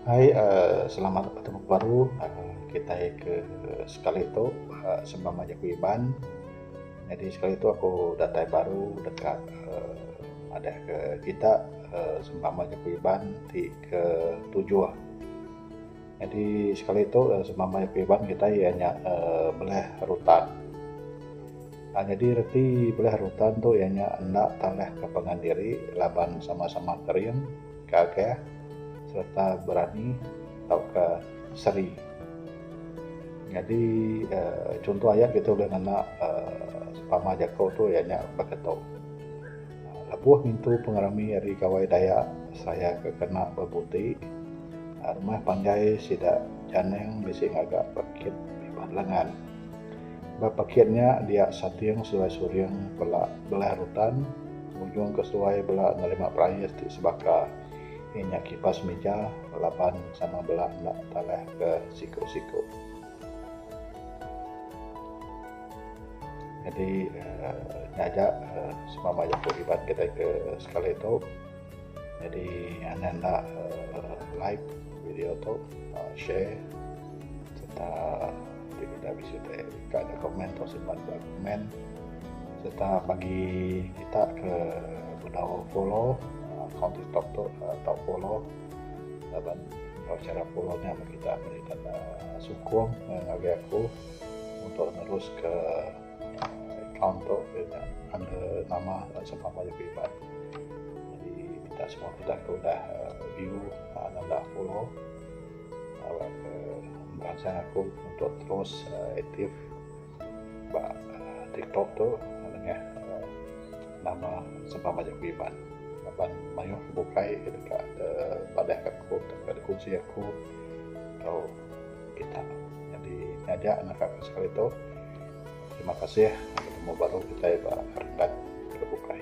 Hai selamat batu muka baru kitai ke sekali tu sembang mah jaku Iban nyadi sekali tu aku datai baru deka madah ke kita sembang mah jaku Iban ti ke tujuh. Nyadi sekali tu sema maya Iban kitai iya nya belih rutan. Nyadi reti belih rutan tu iya nya enda tanah ke pangan diri laban sama sama kering, gagah sereta berani tauka seri. Nyadi aaa chunto aya kitai ulih ngena aaa pama jaku tu iya nya beketo. Lebuh ngintu pengerami ari Gawai Dayak Seraya ke kena bebu ti, rumah panjai sida Janang bisi ngaga pekit bibah lengan. Ba pekit nya dia sating seduai suring bela belah rutan ngujung ke seduai bela nerima perais ti sebaka iya nya kipas mija laban sama bela enda talah ke siku-siku. Nyadi nya aja semama aja ku hibat kitai ke sekali tu. Nyadi enda enda like video tu share serta ti peda bisi ti ka neg komen tu simpan ba komen serta bagi kita ke bedau follow account tiktok tu tau follow. laban tau cara pulung nya meh kita meri ka ne sukung ngagai aku untuk neruska account tu pia nya under nama Sapa Maya Priban jadi minta semua kita ke udah view nanda follow tau ke meransang aku untuk terus aktif. Ba tiktok tu nengah nama sempang majak aku iban laban mayuh ke bukai ke deka padahka aku deka dipuji aku tau kitak nyadi nyaja naka ku sekali tu terima kasih penemu baru kitai ba renggat ke bukai.